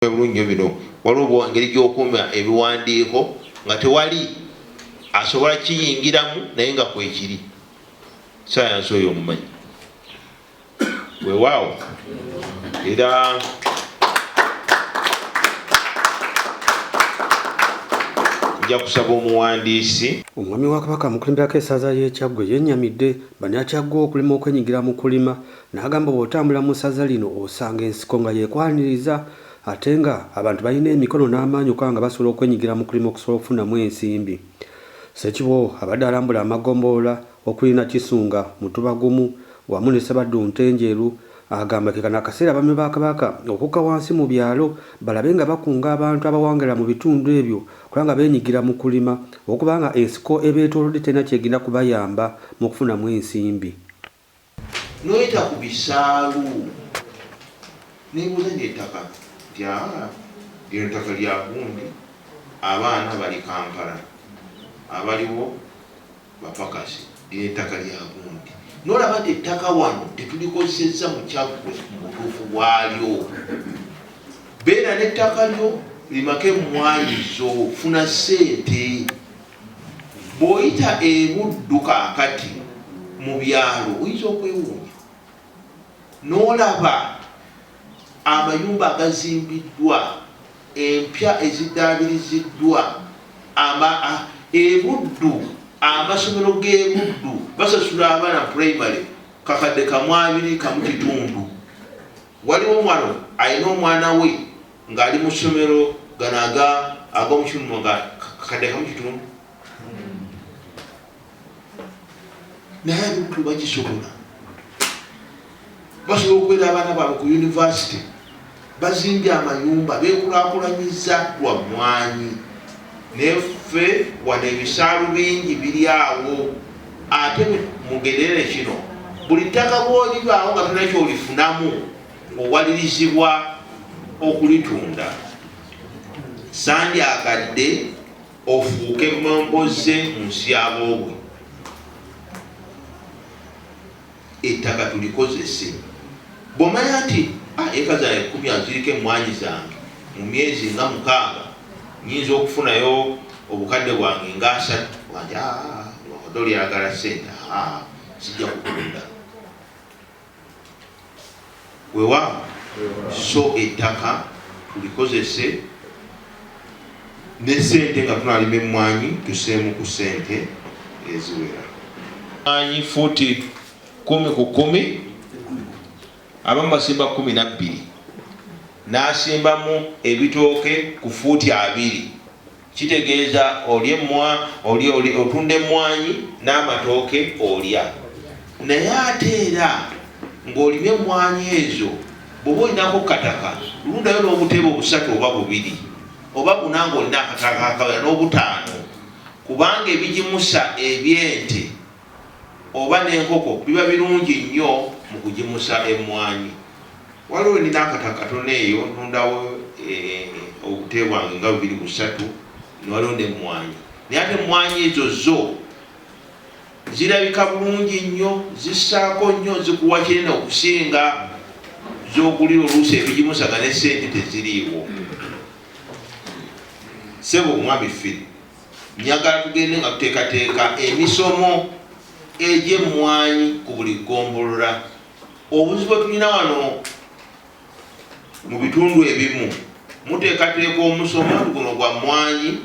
Bwe bulungi nyo bino. Waliwo engeri gy'okuuma ebiwandiiko nga tewali asobola kiyingiramu naye nga kwekiri. Sayansi oyo omumanyi? Wewaawo era nja kusaba omuwandiisi. Omwami wa Kabaka amukulemberako esaza y'e Kyaggwe yennyamidde bannakyaggwe okulema okwenyigira mu kulima N'agamba bw'otambula mu ssaza lino osanga ensiko nga y'ekwaniriza ate nga abantu balina emikono n'amaanyi okuba nga basobola okwenyigira mu kulima okusobola okufunamu ensimbi. Ssekiboobo abadde alambula amagombolola okuli Nakisunga, Mutubagumu wamu ne Ssabaddu Ntenjeru agamba ke kano akaseera abaami ba Kabaka okukka wansi mu byalo balabe nga bakunga abantu abawangalira mu bitundu ebyo okuba nga beenyigira mu kulima okuba nga ensiko ebeetoolodde terina ky'egenda kubayamba mu kufunamu ensimbi. noyita ku bisaalu nebuuza nti ettaka lyaani? Lino ttaka lya gundi, abaana bali Kampala abaliwo bapakasi, lino ettaka lya gundi nolaba nti ettaka wano tetulikozesezza mu kyaggwe mu butuufu bwalyo. Beera n'ettaka lyo limako emmwaanyi zo, funa ssente. Bw'oyita e Buddu kaakati mu byalo oyinza okwewuunya n'olaba amayumba agazimbiddwa, empya eziddaabiriziddwa, ama, a, e Buddu, amasomero g'e Buddu basasula abaana primary kakadde kamu abiri kamu kitundu. Waliwo wano alina omwana we. nga ali mu ssomero gano aga ag'omukimuno nga kakadde kamu kitundu naye abikulu bakisobola basobola okubeera abaana baabwe ku yunivasite bazimbye amayumba bekulakulanyiza lwa mwanyi neffe wano ebisaalu bingi biri awo ate mugerere kino buli ttaka bwolibaawo nga tona kyolifunamu owalirizibwa okulitunda sandyakadde ofuuke momboze mu nsi yaboobwe ettaka tulikozese bwomanya nti ah, eka zange kumi aziriko emwanyi zange mu myezi nga mukaaga nyinza okufunayo obukadde bwange nga asatu wanja ah, odolyagala sente ah, sijja kutunda wewa so ettaka tulikozese ne sente nga tunalima emmwanyi tuseemu ku sente eziwera anyi futi kumi ku kumi abamu basimba kumi nabbiri nasimbamu ebitooke ku fuuti abiri Kitegeeza olya emmwa, olya, olya, otunda emmwanyi n'amatooke olya. Naye ate era ng'olima emmwanyi ezo bw'oba olinako ku kataka lundayo n'obutebe obusatu oba bubiri oba buna ng'olina akataka akawera n'obutaano kubanga ebigimusa eby'ente oba n'enkoko biba birungi nnyo mu kugimusa emmwanyi. Waliwo we nnina akataka katono eyo ntundawo obute bwange nga bubiri busatu ne waliwo n'emmwanyi naye ate emmwanyi ezo zo zirabika bulungi nnyo, zissaako nnyo, zikuwa kinene okusinga z'ogulira oluusi ebigimusaga ne ssente teziriiwo. Ssebo Mwami Phil. Njagala tugende nga tuteekateeka emisomo egy'emmwanyi ku buli ggombolola. Obuzibu bwe tulina wano mu bitundu ebimu, muteekateeka omusomo guno gwa mmwanyi,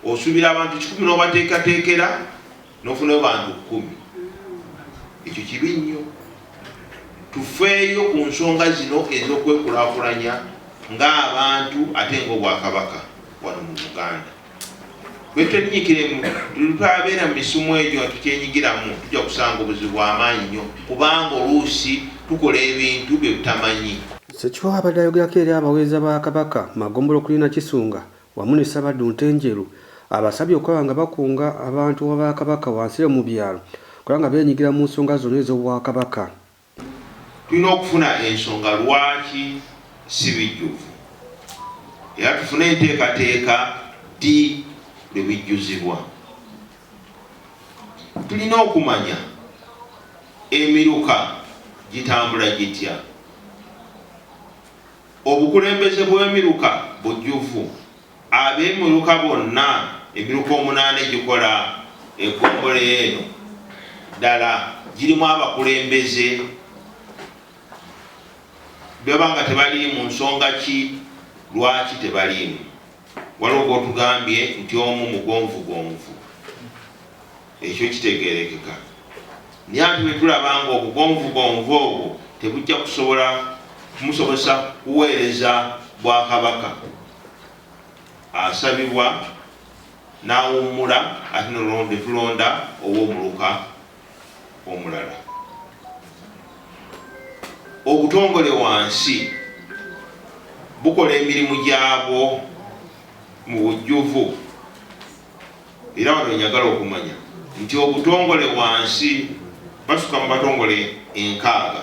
osuubira abantu kikumi n'obateekateekera, nofunayo bantu kumi ekyo kibi nnyo tufeeyo ku nsonga zino ezokwekulakulanya ng'abantu ate ngaobwakabaka wano mu uganda bwetenyikiremu tutabeera mu misumu egyo nga tukyenyigiramu tujja kusanga obuzibu bwamaanyi nnyo kubanga oluusi tukola ebintu byebutamanyi Sekiwa abadde ayogerako eri abaweereza ba Kabaka magombolola okulina Kisunga wamu ne Ssabaddu Ntenjeru abasabye okulaba nga bakunga abantu ba Kabaka wansi eyo mu byalo okulaba nga beenyigira mu nsonga zonna ez'Obwakabaka. Tulina okufuna ensonga lwaki si bijjuvu era tufune enteekateeka ddi lwe bijjuzibwa. Tulina okumanya emiruka gitambula gitya. Obukulembeze bw'emiruka bujjuvu. Ab'emiruka bonna, emiruka omunaana egikola eggombolola eno, ddala girimu abakulembeze? Bwe baba nga tebaliimu, nsonga ki lwaki tebaliimu? Waliwo gwotugambye nti omu mugonvugonvu, ekyo kitegerekeka naye ate bwetulaba nga obugonvugonvu obwo tebujja kusobola kumusobozesa kuweereza bwakabaka asabibwa nawummula ate netulonda owomuluka omulala obutongole wansi bukola emirimu gyabwo mu bujjuvu era wano njagala okumanya nti obutongole wansi basuka mu batongole enkaaga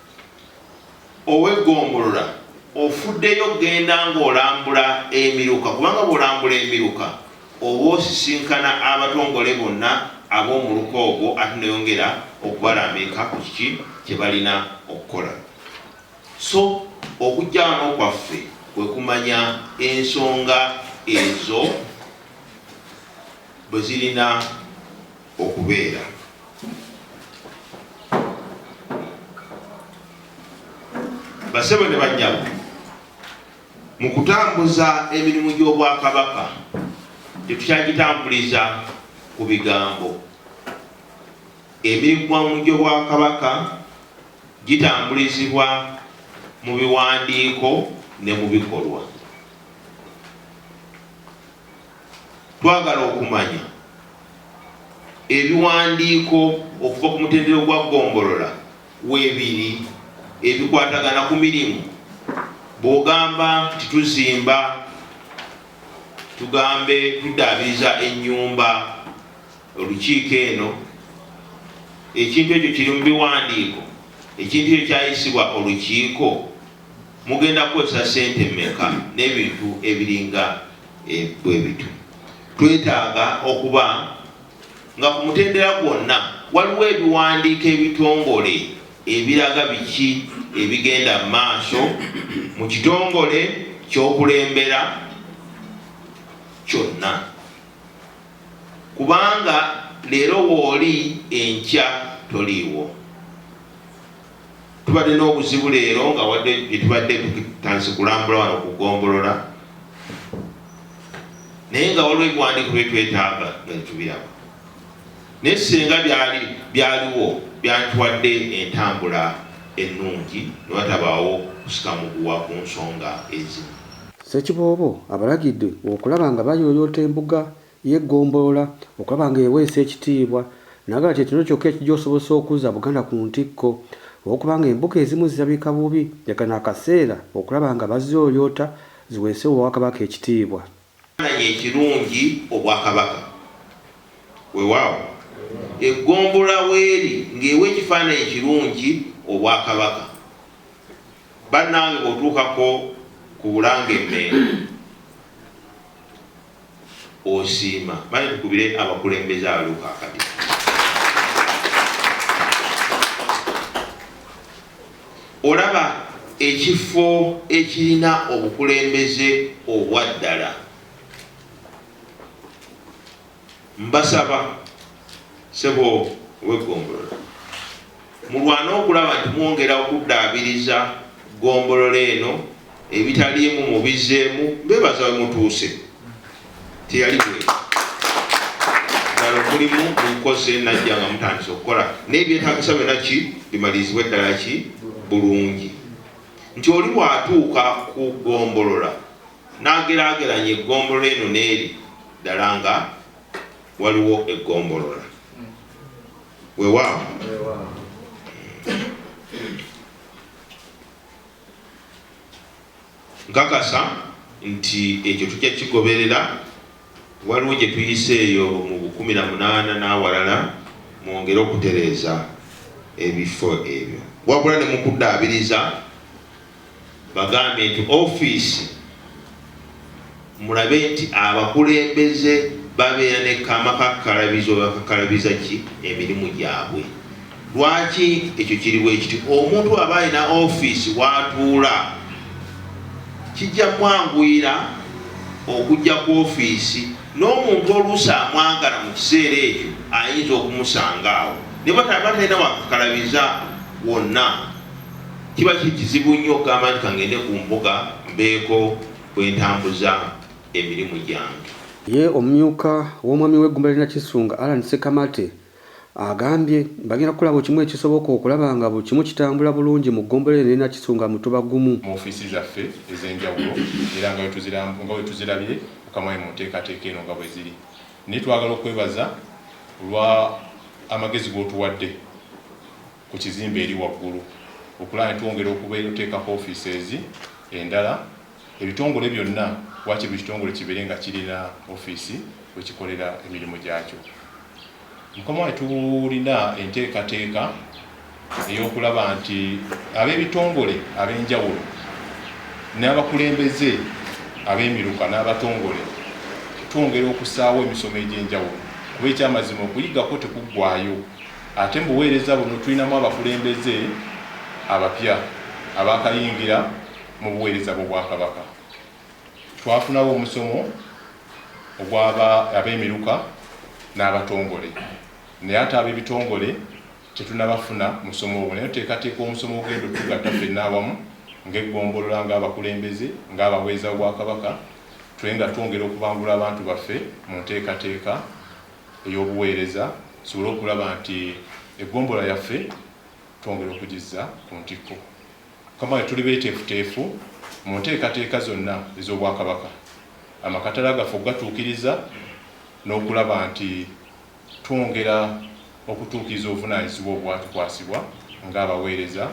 oweggombolola ofuddeyo okugenda ng'olambula emiruka kubanga bw'olambula emiruka oba osisinkana abatongole bonna ab'omuluka ogwo ate noyongera okubalambika ku kiki kye balina okukola so okujja wano kwaffe kwe kumanya ensonga ezo bwe zirina okubeera basebo ne banyabo mu kutambuza emirimu gy'obwakabaka tetukyagitambuliza ku bigambo emirimu gy'obwakabaka gitambulizibwa mu biwandiiko ne mu bikolwa Twagala okumanya ebiwandiiko okuva ku mutendera gwa Ggombolola webiri ebikwatagana ku mirimu. Bwogamba nti tuzimba tugambe tuddaabiriza ennyumba, olukiiko eno ekintu ekyo kiri mu biwandiiko? Ekintu ekyo kyayisibwa olukiiko? Mugenda kukozesa ssente mmeka? N'ebintu ebiringa eh, bwe bityo twetaaga okuba nga ku mutendera gwonna waliwo ebiwandiiko ebitongole ebiraga biki ebigenda mu maaso mu kitongole ky'okulembera kyonna kubanga leero wooli enkya toliiwo Tubadde n'obuzibu leero nga wadde tubadde tutandise kulambula wano ku ggombolola naye nga waliwo ebiwandiiko bye twetaaga nga tetubiraba naye singa byali byaliwo byantwadde entambula ennungi ne watabaawo kusika muguwa ku nsonga ezimu. Ssekiboobo abalagidde okulaba nga bayooyoota embuga y'eggombolola okulaba ng'eweesa ekitiibwa n'agamba nti ekino kyokka ekigyosobozesa okuzza Buganda ku ntikko olw'okuba ng'embuga ezimu zirabika bubi ne kano akaseera okulaba nga baziyooyoota ziweese Obwakabaka ekitiibwa. Ekifaananyi ekirungi Obwakabaka. Weewaawo, eggombolola weeri ng'ewa ekifaananyi ekirungi Obwakabaka. Bannange bw'otuukako ku Bulange e Mmengo, osiima bane tukubire abakulembeze abaluka akadi olaba ekifo ekirina obukulembeze obwaddala mbasaba sebo wegombolola Mulwane okulaba nti mwongera okuddaabiriza ggombolola eno ebitaliimu mubizzeemu, mbeebaza we mutuuse. Teyali bw'etyo. Ddala omulimu mugukoze Najja nga mutandise okukola n'ebyetaagisa byonna ki bimalirizibwe ddala ki bulungi nti oli bw'atuuka ku ggombolola n'ageraageranya eggombolola eno n'eri ddala nga waliwo eggombolola. Weewaawo. Nkakasa nti ekyo tujja kigoberera. Waliwo gye tuyise eyo mu bukumi na munaana n'awalala mwongere okutereeza ebifo ebyo wabula ne mukuddaabiriza Bagambye nti ofiisi mulabe nti abakulembeze babeera ne kamakakkalabizo webakakkalabiza ki emirimu gyabwe. Lwaki ekyo kiri bwekiti? Omuntu aba alina ofiisi watuula kijja mwanguyira okujja ku ofiisi n'omuntu oluusi amwagala mu kiseera ekyo ayinza okumusanga awo ne bwataba talina wakakalabiza wonna. Kiba kizibu nnyo okugamba nti kangende ku mbuga mbeeko bwe ntambuza emirimu gyange. Ye omumyuka w'omwami w'eggumba lye Nakisunga, Allan Ssekamate agambye bagenda kukola buli kimu ekisoboka okulaba nga buli kimu kitambula bulungi mu ggombolola eno ne Nakisunga Mutuba gumu. mu ofiisi zaffe ez'enjawulo era nga bwe tuzirabye ku Kamwami mu nteekateeka eno nga bwe ziri naye twagala okwebaza olwa amagezi g'otuwadde. ku kizimbe eri waggulu okulaba ne twongera okubeera oteekako offices endala ebitongole byonna waakiri buli kitongole kibeere nga kirina offiisi we kikolera emirimu gyakyo. Mukama wange tulina enteekateeka ey'okulaba nti ab'ebitongole ab'enjawulo n'abakulembeze ab'emiruka n'abatongole twongera okusaawo emisomo egy'enjawulo kuba ekyamazima okuyigako tekuggwaayo. Ate mu buweereza buno tulinamu abakulembeze abapya abaakayingira mu buweereza bw'Obwakabaka. Twafunawo omusomo ogw'ab'emiruka n'abatongole, naye ate ab'ebitongole tetunnabafuna musomo ogwo. Naye tuteekateeka omusomo ogugenda okutugatta ffenna awamu ng'eggombolola, ng'abakulembeze, ng'abaweereza b'Obwakabaka, tube nga twongera okubangula abantu baffe mu nteekateeka. ey'obuweereza tusobole okulaba nti eggombolola yaffe twongera okugizza ku ntikko. Mukama wange tuli beeteefuteefu mu nteekateeka zonna ez'Obwakabaka, amakatala gaffe okugatuukiriza n'okulaba nti twongera okutuukiriza obuvunaanyizibwa obwatukwasibwa ng'abaweereza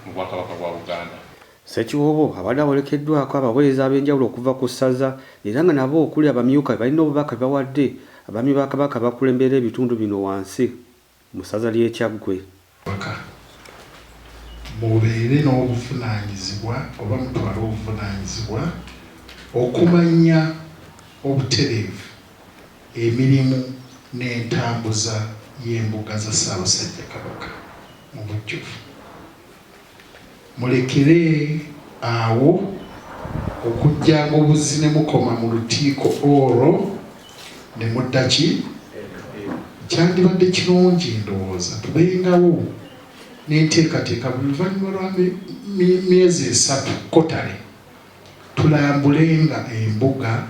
mu Bwakabaka bwa Buganda. Ssekiwoobo abadde awerekeddwako abaweereza ab'enjawulo okuva ku ssaza era nga nabo okuli abamyuka be balina obubaka bwe bawadde abaami ba Kabaka abakulemberera ebitundu bino wansi mu ssaza ly'e Kyaggwe. Obubaka, Mubeere n'obuvunaanyizibwa oba mutwale obuvunaanyizibwa okumanya obutereevu emirimu n'entambuza y'embuga za Ssaabasajja Kabaka mu bujjuvu. Mulekere awo okujjanga obuzzi ne mukoma mu lutiiko olwo ne mudda ki? Kyandibadde kirungi ndowooza tubengawo n'enteekateeka buli luvannyuma lwa myezi esatu, quarterly, Tulambulenga embuga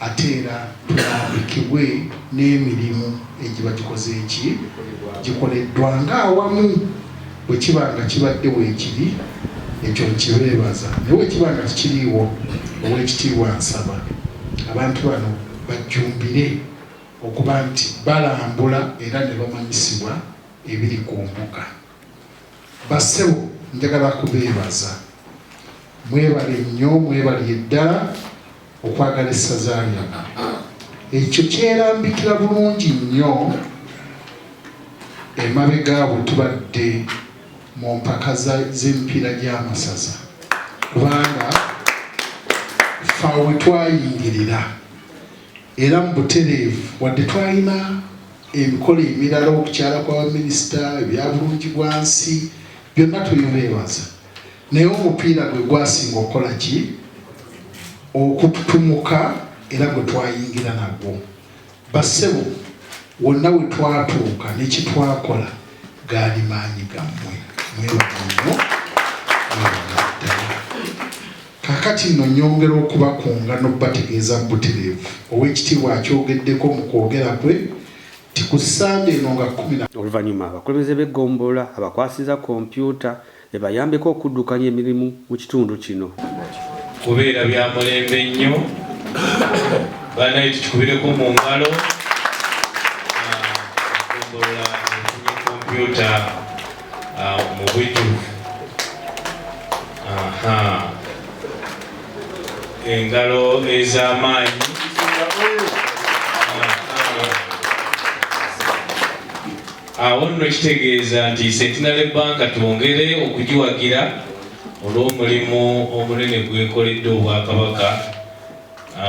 ate era tulambikibwe n'emirimu egiba gikoze ki? Gikoleddwa ng'awamu. Bwe kiba nga kibadde weekiri, ekyo nkibeebaza. Naye bwe kiba nga tekiriiwo, Oweekitiibwa nsaba abantu bano bajjumbire okuba nti balambula era ne bamanyisibwa ebiri ku mbuga. Bassebo njagala kubeebaza mwebale nnyo mwebalye ddala okwagala essaza lyana ekyo kyerambikira bulungi nnyo emabega bwe tubadde mu mpaka z'emipiira gy'amasaza kubanga fawe twayingirira Era mu butereevu, wadde twalina emikolo emirala, okukyala kwa baminisita, ebya bulungibwansi, byonna tubibeebaza, naye omupiira gwe gwasinga okukola ki? Okututumuka era gwe twayingira nagwo. Bassebo, wonna we twatuuka ne kye twakola gaali maanyi gammwe. Mwebale nnyo. Mwebale ddala. Kaakati nno nnyongera okubakunga n'okubategeeza butereevu, Oweekitiibwa akyogeddeko mu kwogera kwe nti ku Ssande eno nga kkumi na. Oluvannyuma abakulembeze b'eggombolola abakwasizza kompyuta ebayambeko okuddukanya emirimu mu kitundu kino. Kubeera bya mulembe nnyo banaye tukikubireko mu ngalo. Eggombolola efunye kompyuta Ah, mu bujjuvu engalo ez'amaanyi awo nno kitegeeza nti sentinale banka twongere okugiwagira olw'omulimu omunene gwekoledde obwakabaka